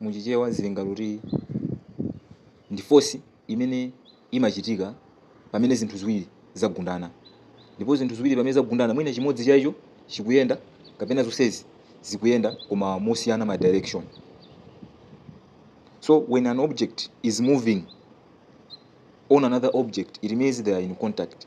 Mu Chichewa zili ngati kuti ndi force imene imachitika pamene zinthu ziwiri zagundana. Ndipo zinthu ziwiri pamene zagundana mwina chimodzi cha icho chikuyenda kapena zonsezi zikuyenda koma mosiyana ma direction. So when an object is moving on another object it means they are in contact.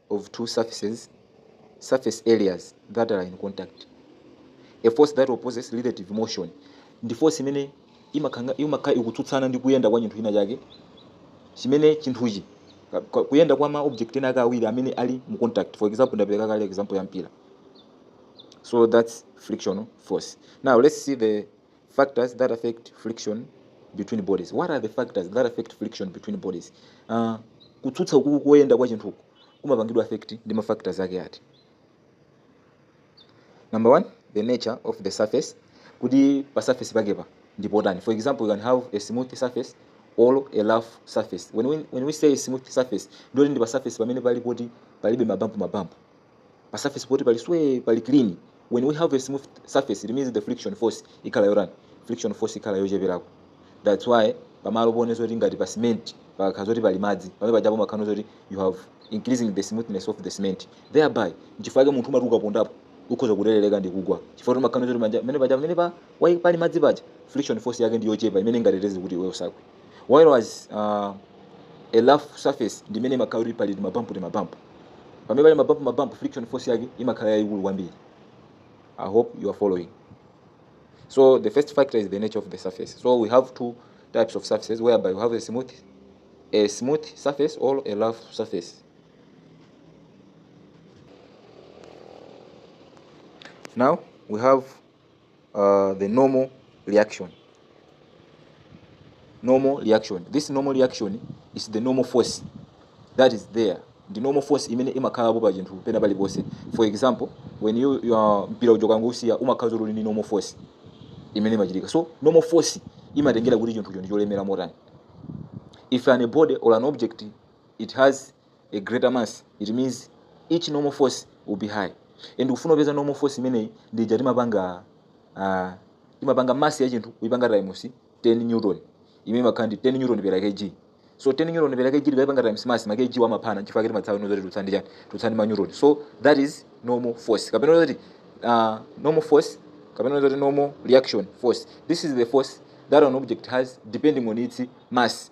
of two surface areas that are in contact a force that opposes relative motion ndi force imene imakhanga imakha ikutsutsana ndi kuyenda kwa chinthu china chake chimene chinthuchi ka- ka- kuyenda kwa ma object ena ake awiri amene ali mu contact for example ndapereka kale example ya mpira so that's frictional force now let's see the factors that affect friction between bodies what are the factors that affect friction between bodies uh, kutsutsa uku koyenda kwa chinthuku kumapangidwa affect ndi ma factors ake ati number one the nature of the surface kuti pa surface pakepo ndi potani for example you can have a smooth surface or a rough surface when we, when we say smooth surface ndiye kuti ndi pa surface pamene pali poti palibe mabampu mabampu pa surface poti pali sway pali clean when we have a smooth surface it means the friction force ikhala yotani friction force ikhala yocheperako that's why pamalo pone zoti ngati pa cement pakakhala zoti pali madzi pamene pajapo mumakhala zoti you have increasing the smoothness of the cement thereby nchifukwa chake munthu umati ukapondapo ukhoza kuterereka ndi kugwa chifukwa kuti mumakhala zoti manja- pamene paja pamene pa wai- pali madzi paja friction force yake ndi yochepa imene ingateteze kuti iwe usagwe while as uh, a rough surface ndi imene imakhala kuti pali timabampu timabampu pamene pali mabampu mabampu friction force yake imakhala yayikulu kwambiri i hope you are following so the first factor is the nature of the surface so we have two types of surfaces whereby you have a smooth a smooth surface or a rough surface now we have uh, the normal reaction normal reaction this normal reaction is the normal force that is there ndi normal force imene imakhalapo pa chinthu pena paliponse for example when you, you are mpira uja ukangousiya umakhala zoti uli ndi normal force imene imachitika so normal force imatengera kuti chinthucho ndi cholemera motani if an a body or an object it has a greater mass it means its normal force will be high and kufuna kupeza normal force imeneyi ndi ija timapanga uh, timapanga mass ya chinthu kuipanga times 10 newton imene imakhala ndi 10 newton per kg so 10 newton per kg tikaipanga times mass ma kg wa amaphana chifukwa kuti mudziwa inu zoti titsala ndi chani titsala ndi ma newton so that is normal force kapena zoti uh, normal force kapena zoti normal reaction force this is the force that an object has depending on its mass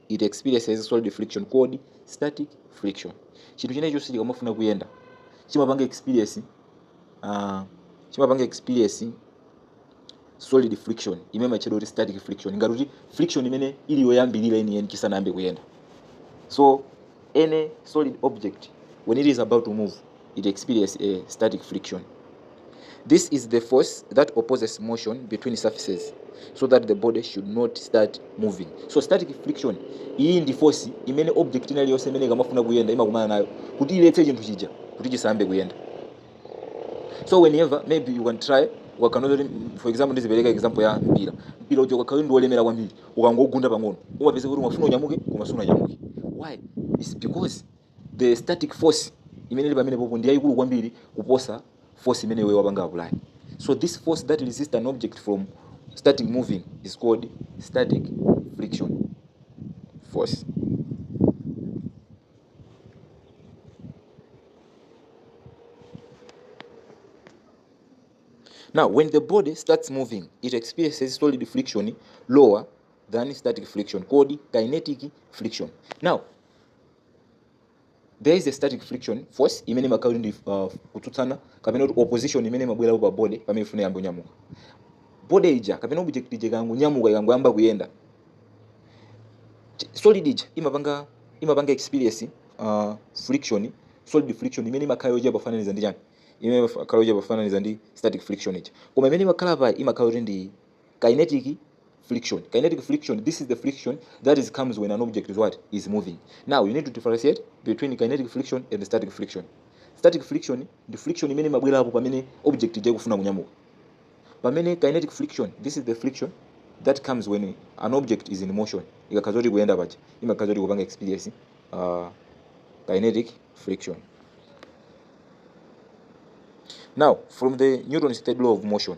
it experiences solid friction called static friction chinthu china chonse chikamafuna kuyenda chimapanga experience uh, chimapanga experience solid friction imene imatchedwa kuti static friction ngati kuti friction imene ili yoyambirira yeniyeni chisanayambe kuyenda so any solid object when it is about to move it experience a static friction. This is the force that opposes motion between surfaces so that the body should not start moving. So static friction iyi ndi force imene object ina iliyonse imene ikamafuna kuyenda imakumana nayo kuti iletse chinthu chija kuti chisayambe kuyenda. So whenever maybe you can try ukaona zoti for example ndizipereka example ya mpira mpira uja ukakhala ndi wolemera kwambiri ukangogunda pang'ono umapeza kuti umafuna unyamuke koma sunanyamuke why it's because the static force imene ili pamene popo ndi yayikulu kwambiri kuposa force imene iwe wapanga apply so this force that resists an object from starting moving is called static friction force Now, when the body starts moving, it experiences solid friction lower than static friction, called kinetic friction. Now, there is a static friction force imene imakhala kuti ndi uh, kutsutsana kapena kuti opposition imene imabwerapo pa body pamene ifuna iyambe kunyamuka body ija kapena object ija ikangonyamuka ikangoyamba kuyenda Ch- solid ija imapanga imapanga experience uh, friction solid friction imene imakhala yochepa pofananiza ndi chani imene imakhala yochepa pofananiza ndi static friction ija koma imene imakhala pa imakhala kuti ndi kinetic friction kinetic friction this is the friction that is comes when an object is what is moving now you need to differentiate between kinetic friction and static friction static friction ndi friction imene imabwerapo pamene object ija ikufuna kunyamuka pamene kinetic friction this is the friction that comes when an object is in motion ikakhala zoti ikuyenda paja imakhala zoti ikupanga experience uh, kinetic friction now from the newton's third law of motion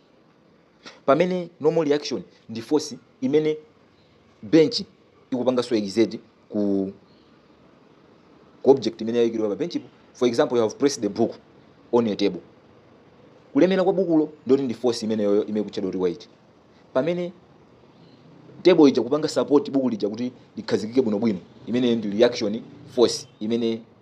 pamene normal reaction ndi force imene bench ikupanganso exert ku ku object imene yayikidwa pa benchipo for example you have placed the book on a table kulemera kwa bukulo ndiye kuti ndi force imeneyoyo imene ikutchedwa kuti weight pamene table ija ikupanga support buku lija kuti likhazikike bwinobwino imene ndi reaction force imene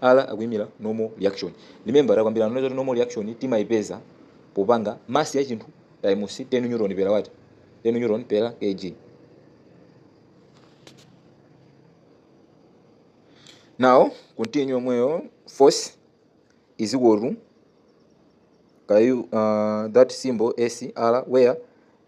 R akuimira normal reaction. Remember takambirana nazo kuti normal reaction timaipeza popanga mass ya chinthu times 10 newton per what? 10 newton per kg. Now continue yomweyo force is equal to kayu uh, that symbol SR where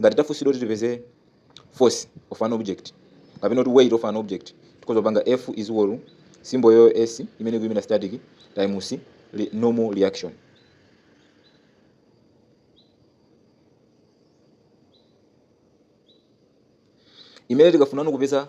ngati tafunsidwa kuti tipeze force of an object kapena kuti weight of an object tikhoza kupanga f is equal to symbol yo s imene ikuyimira static times re- normal reaction imene tikafuna kupeza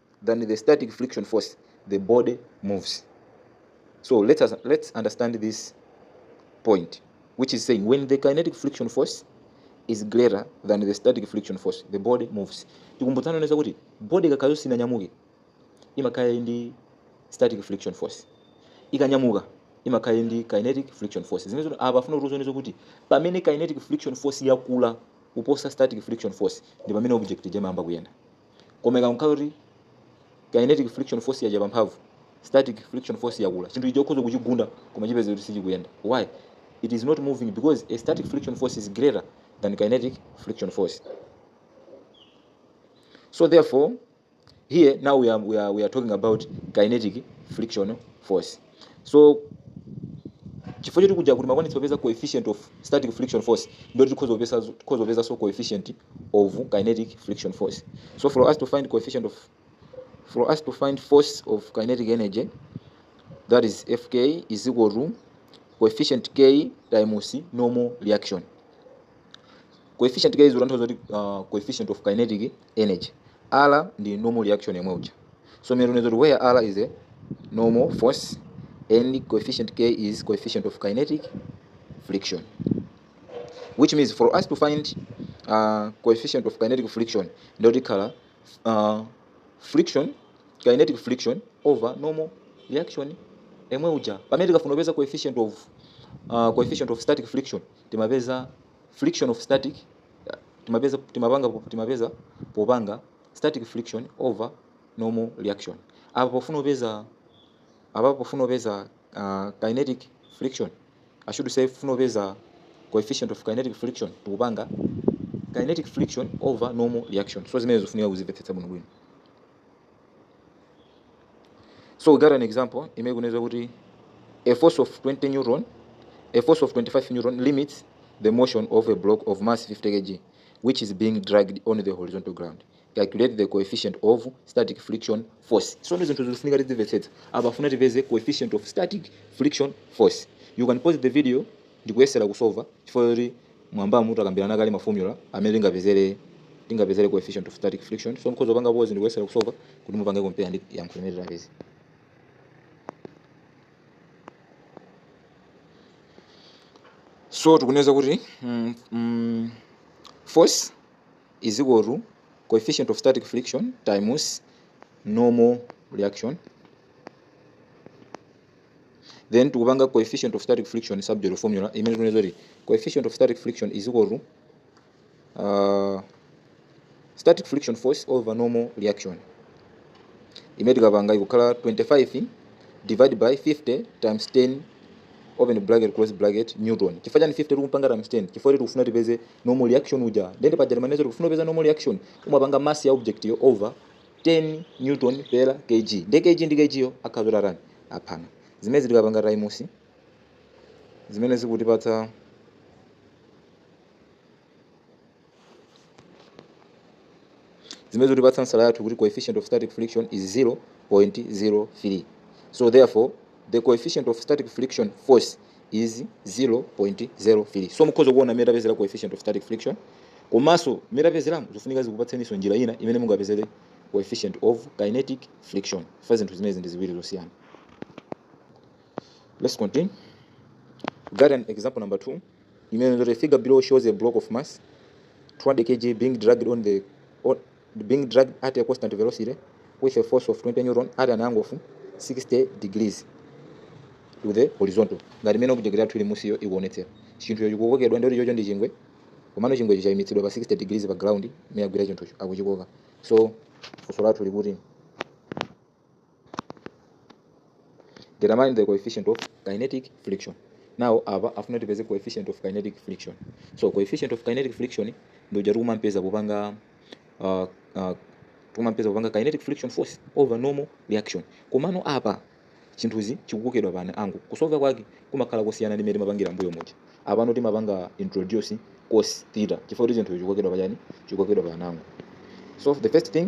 than the static friction force, the body moves. So let us let's understand this point, which is saying when the kinetic friction force is greater than the static friction force, the body moves. Tikumbutsane zakuti body ikakhala zoti sinanyamuke imakhala ndi static friction force. Ikanyamuka imakhala ndi kinetic friction force. Zimene zoti apa akufuna kutiuza zakuti pamene kinetic friction force yakula kuposa static friction force ndi pamene object ija imayamba kuyenda. koma ikankhale kuti kinetic friction force yachepa mphamvu static friction force yakula chinthu icho ukhoza kuchigunda koma chipeze kuti sichikuyenda why it is not moving because a static friction force is greater than kinetic friction force so therefore here now we are, we are, we are talking about kinetic friction force so chifukwa choti kuja kuti makwanitsa kupeza coefficient of static friction force ndoti tikhoza kupeza tikhoza kupeza so coefficient of kinetic friction force so for us to find coefficient of for us to find force of kinetic energy that is fk is equal to coefficient k times normal reaction coefficient k is utanthauza kuti uh, coefficient of kinetic energy Allah ndi normal reaction yemwe uja so mene tuneza kuti where Allah is a normal force and coefficient K is coefficient of kinetic friction which means for us to find uh, coefficient of kinetic friction ndio tikhala uh, friction kinetic friction over normal reaction emwe uja pamene tikafuna kupeza coefficient of uh, coefficient of static friction timapeza friction of static timapeza timapanga timapeza popanga static friction over normal reaction apa pofuna kupeza apa pofuna kupeza uh, kinetic friction i should say pofuna kupeza coefficient of kinetic friction tikupanga kinetic friction over normal reaction so zimenezo zofunika kuzimvetsetsa bwino bwino so we got an example imene ikunena kuti a force of 20 newton a force of 25 newton limits the motion of a block of mass 50 kg which is being dragged on the horizontal ground calculate the coefficient of static friction force so ndi zinthu zofunika tidzimvetsetsa apa akufuna tipeze coefficient of static friction force you can pause the video ndikuyesera kusova chifukwa choti M'mwambamu takambirana kale ma formula amene tingapezere coefficient of static friction. So mukhoza kupanga pause ndikuyesera kusova kuti mupange compare ndi yankho limene tapeza. So tikunena kuti mm, mm, force is equal to coefficient of static friction times normal reaction then tikupanga coefficient of static friction subject of formula imene tikunena kuti coefficient of static friction is equal to uh, static friction force over normal reaction imene tikapanga ikukhala 25 divide by 50 times 10 open bracket close bracket newton chifukwa chani 50 tikupanga times 10 chifukwa kuti tikufuna tipeze normal reaction uja then paja timanena zoti ukafuna kupeza normal reaction umapanga mass ya object yo over 10 newton per kg nde kg ndi kg yo akhala zoti atani aphana zimezi tikapanga taimusi zimene zikutipatsa zimene zikutipatsa ansala yathu kuti coefficient of static friction is 0.03 so therefore the coefficient of static friction force is 0.03 so mukhoza kuona mmene tapezera coefficient of static friction komanso mmene tapezera zofunika zikupatseniso njira ina imene mungapezere coefficient of kinetic friction fa zinthu zimenezi ndi ziwiri zosiyana let's continue we got an example number 2 imene the figure below shows a block of mass 200 kg being dragged on the being dragged at a constant velocity with a force of 20 newton at an angle of 60 degrees to the horizontal ngati mmene object yathu ili musiyo ikuonetsera chinthucho chikukokedwa ndikuti chocho ndi chingwe komano chingwecho chayimitsidwa pa 60 degrees pa ground mmene agwira chinthucho akuchikoka so funso lathu likuti determine the coefficient of kinetic friction now apa afuna tipeze coefficient of kinetic friction so coefficient of kinetic friction ndi uja tikumampeza popanga uh, uh, tikumampeza popanga kinetic friction force over normal reaction komano apa chinthuchi chikukokedwa pa angle kusolva kwake kumakhala kosiyana ndi mmene timapangira mbuyo muja apano timapanga introduce cos theta chifukwa kuti chinthucho chikukokedwa pachani chikukokedwa pa angle so the first thing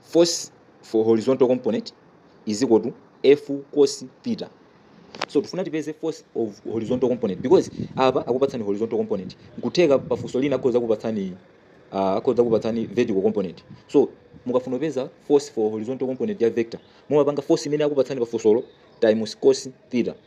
force for horizontal component is equal to f cos theta so tifuna tipeze force of horizontal component because apa akupatsani horizontal component nkutheka pafunso lina akhoza kupatsani uh, akhoza kupatsani vertical component so mukafuna kupeza force for horizontal component ya vector mumapanga force imene akupatsani pafunsolo times cos theta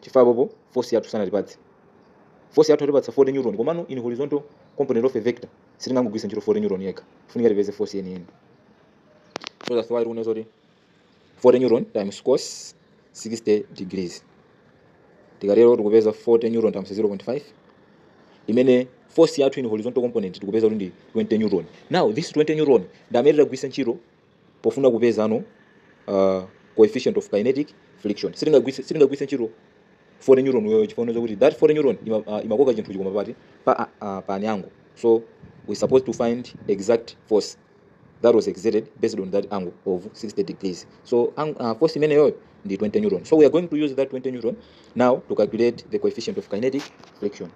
chifukwa apapo force yathu sanatipatse force yathu yatipatsa 40 newton komano in horizontal component of a vector sitingangogwiritsa ntchito 40 newton yekha tikufunika tipeze force yeniyeni so that's why tikunena zoti 40 newton times cos 60 degrees tikatero tikupeza 40 newton times 0.5 imene force yathu in horizontal component tikupeza kuti ndi 20 newton now this 20 newton ndi amene titagwiritse ntchito pofuna kupeza no uh, coefficient of kinetic friction sitingagwise sitingagwise ntchito foreign neuron uyoyo chifukwa unazo kuti that foreign neuron ima, uh, imakoka chinthu chikoma pati pa, uh, pa anyango so we supposed to find exact force that was exerted based on that angle of 60 degrees so ang, uh, force imeneyoyo ndi 20 neuron so we are going to use that 20 neuron now to calculate the coefficient of kinetic friction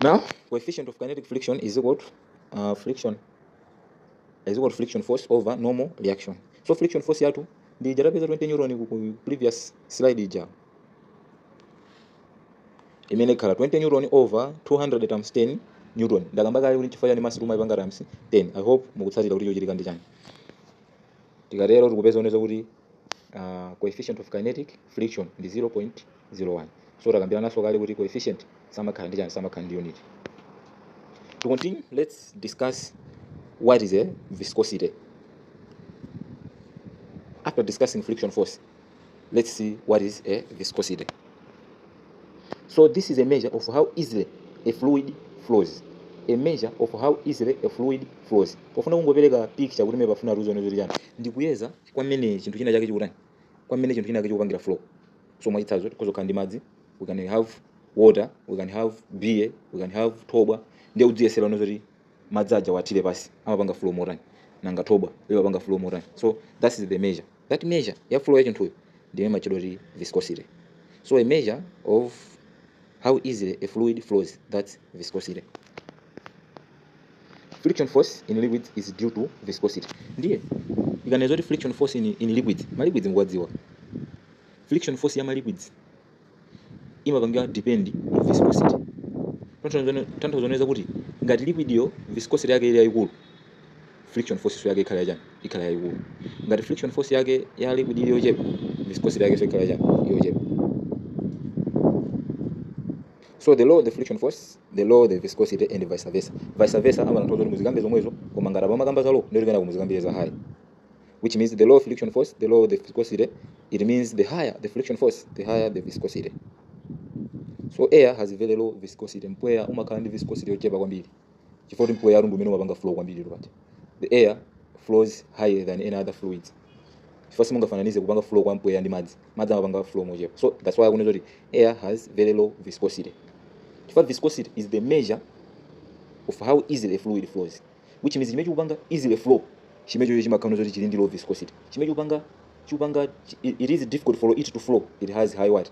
Now, coefficient of kinetic friction is equal to uh, friction is equal to friction force over normal reaction. So friction force yathu ndi ija tapeza 20 newton ku ku previous slide ija imene ikhala 20 newton over 200 times 10 newton ndakamba kale kuti chifukwa chani mass timaipanga times 10 i hope mukutsatira kuti chochitika ndi chani tikatero tikupeza zonena kuti uh, coefficient of kinetic friction ndi 0.01 so takambirananso kale kuti coefficient samakhala ndi chani samakhala ndi unit to continue let's discuss what is a viscosity after discussing friction force let's see what is a viscosity so this is a measure of how easily a fluid flows a measure of how easily a fluid flows pofuna kungopereka picture kuti imeneyi pofuna tizione zoti chani ndikuyeza kwa mmene chinthu china chake chikutani, kwa mmene chinthu china chake chikupangira flow. So mwachitsanzo tikhoza kukhala ndi madzi, we can have water, we can have beer, we can have thobwa. Ndiye udziyesere iwe zoti madzi aja uwathire pansi amapanga flow motani, nanga thobwa limapanga flow motani. So that's the measure. That measure ya flow ya chinthuyo ndi yomwe imatchedwa kuti viscosity. So a measure of how easily a fluid flows, that's viscosity. friction force in liquids is due to viscosity ndiye akanena zoti friction force in, in liquids ma liquids mukuwadziwa friction force ya ma liquids imapangira depend on viscosity tanthauzo zonena kuti ngati liquidyo viscosity yake ili yayikulu friction force yake ikhala yachani ikhala yayikulu ngati friction force yake ya liquid ili yochepa viscosity yakenso ikhala yachani yochepa so the lower the friction force the lower the viscosity and vice versa vice versa amatanthauza zoti muzikambe zomwezo koma ngati apa mumakamba za low ndiye kuti kenako muzikamba za high which means the lower friction force the lower the viscosity it means the higher the friction force the higher the viscosity so air has very low viscosity mpweya umakhala ndi viscosity yochepa kwambiri chifukwa choti mpweya uja ndi umene umapanga flow kwambiri lupati the air flows higher than any other fluids chifukwa simungafananize kupanga flow kwa mpweya ndi madzi madzi amapanga flow mochepa so that's why akunena zoti air has very low viscosity chifukwa viscosity is the measure of how easily a fluid flows which means chimene chikupanga easily flow chimechocho chimakhala choti chili ndi low viscosity chimene chikupanga chikupanga it is difficult for it to flow it has high what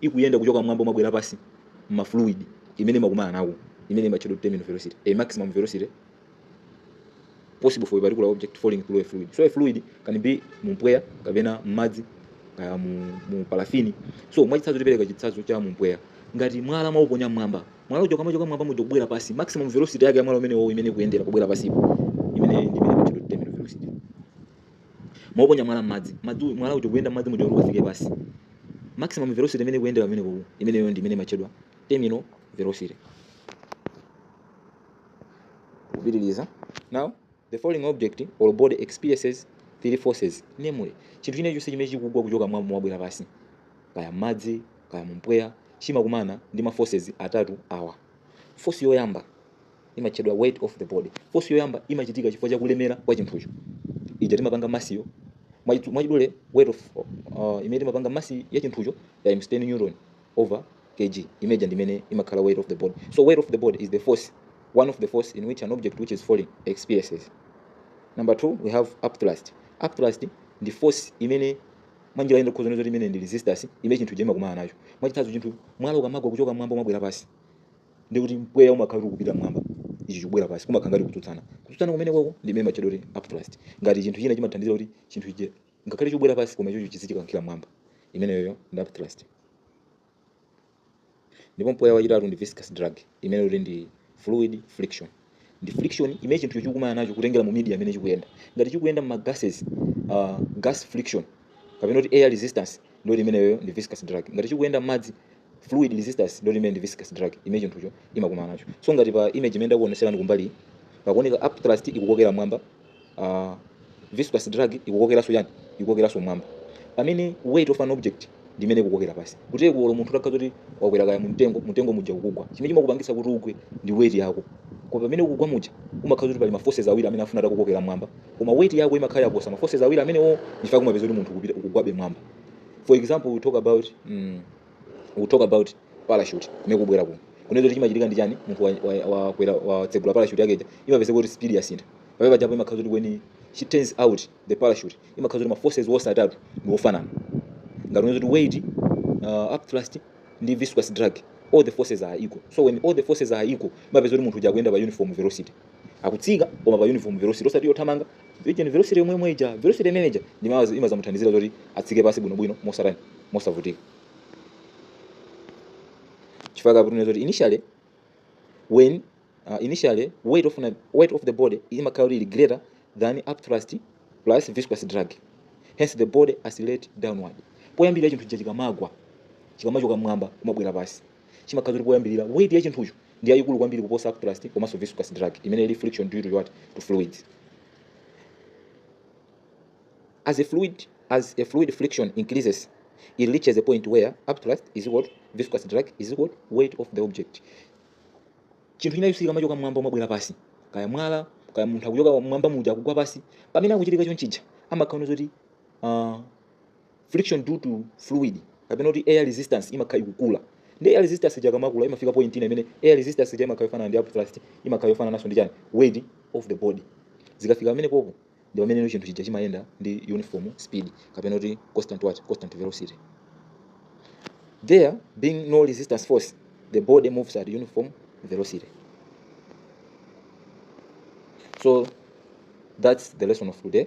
ikuyenda kuchoka m'mwamba kumabwera pansi m'ma fluid imene imakumana nawo imene imatchedwa kuti terminal velocity a maximum velocity possible for a particular object falling through a fluid so a fluid can be mu mpweya kapena m'madzi kaya mu, mu parafini so mwachitsanzo tipereka chitsanzo cha mu mpweya ngati mwala mwauponya m'mwamba mwala uja ukamachoka m'mwamba muja kubwera pansi maximum velocity yake ya mwala umenewo imene ikuyendera kubwera pansipo imeneyo ndi imene imatchedwa kuti terminal velocity mwauponya mwala m'madzi mwala uja kuyenda m'madzi muja kuti ukafike pasi maximum velocity imene ikuyendera pamenepo imeneyo ndi imene imatchedwa terminal velocity kupitiriza now the falling object or body experiences three forces namely chinthu china chilichonse chimene chikugwa kuchoka mmwamba kumabwera pasi kaya m'madzi kaya mumpweya chimakumana ndi ma forces atatu awa force yoyamba imatchedwa weight of the body force yoyamba imachitika chifukwa cha kulemera kwa chinthucho ija timapanga massyo Mwachidu- mwachidule weight of uh, imene timapanga mass ya chinthucho times 10 newton over kg imene ija ndi imene imakhala weight of the body so weight of the body is the force one of the force in which an object which is falling experiences number two we have upthrust upthrust ndi force imene mwanjira ina tikhoza kuti imene ndi resistance imene chinthu chimakumana nacho mwachitsanzo chinthu mwala ukamagwa kuchoka mmwamba kumabwera pasi ndiye kuti mpweya umakhala kuti ukupita mmwamba ichi chikubwera pansi kumakhala ngati kutsutsana kutsutsana kumenekoko ndi imene imatchedwa kuti upthrust ngati chinthu china chimathandizira kuti chinthu chija ngakhale chikubwera pansi koma ichocho chizichikankhira mmwamba imeneyoyo ndi upthrust ndipo mpweya wachitatu ndi viscous drag imene kuti ndi fluid friction ndi friction imene chinthucho chikukumana nacho kutengera mu media imene chikuyenda ngati chikuyenda m'ma gases uh, gas friction kapena kuti air resistance ndiye kuti imeneyoyo ndi viscous drag ngati chikuyenda m'madzi fluid resistance ndiye kuti imene ndi viscous drag imene chinthucho imakumana nacho so ngati pa image imene ndakuoneserani kumbaliyi pakuoneka upthrust ikukokera mwamba uh, viscous drag ikukokeranso chani ikukokeranso mwamba pamene weight of an object ndimene ikukokera pasi kuteroko olo munthu utakhala kuti wakwera kaya mumtengo mumtengo muja ukugwa chimene chimakupangisa kuti ugwe ndi weight yako koma pamene ukugwa muja umakhala kuti pali maforces awiri amene afuna atakukokera mwamba koma weight yako imakhala yaposa maforces awiri amenewo nchifukwa umapeza kuti munthu ukupita ukugwabe mwamba for example we talk about mm, we talk about parachute imene ikubwera kuno kunena kuti chimachitika ndi chani munthu wa- wa- wakwera watsegula parachute yake ija imapezeka kuti speed yasintha pamene pajapo imakhala kuti when she turns out the parachute imakhala kuti ma forces wonse atatu ndi ofanana ngati unaweza kuti weight uh, upthrust ndi viscous drag all the forces are equal so when all the forces are equal umapeza kuti munthu uja akuyenda pa uniform velocity akutsika koma pa uniform velocity osati yothamanga ija velocity yomwe yomwe ija velocity imene ija ndi mawu azi- imazamuthandizira zoti atsike pasi bwinobwino mosatani mosavutika chifukwa apa tunena kuti initially when uh, initially weight of, an- weight of the body imakhala kuti ili greater than upthrust plus viscous drag hence the body accelerate downward poyambirira chinthu chija chikamagwa chikamachoka mmwamba kumabwera pasi chimakhala choti poyambirira weight ya chinthucho ndi yayikulu kwambiri kuposa upthrust komanso viscous drag imene ili friction due to what to fluids as a fluid as a fluid friction increases it reaches a point where upthrust is equal to viscous drag is equal to weight of the object chinthu chija chikamachoka mmwamba kumabwera pasi kaya mwala kaya munthu akuchoka mmwamba muja akugwa pasi pamene akuchitika chonchija amakhala zoti uh, friction due to fluid kapena kuti air resistance imakhala ikukula nde air resistance ija ikamakula imafika point ina imene air resistance ija imakhala yofanana ndi upthrust imakhala yofanana naso ndi chani weight of the body zikafika pamenepopo ndi pamene chinthu chija chimayenda ndi uniform speed kapena kuti constant what constant velocity there being no resultant force the body moves at uniform velocity so that's the lesson of today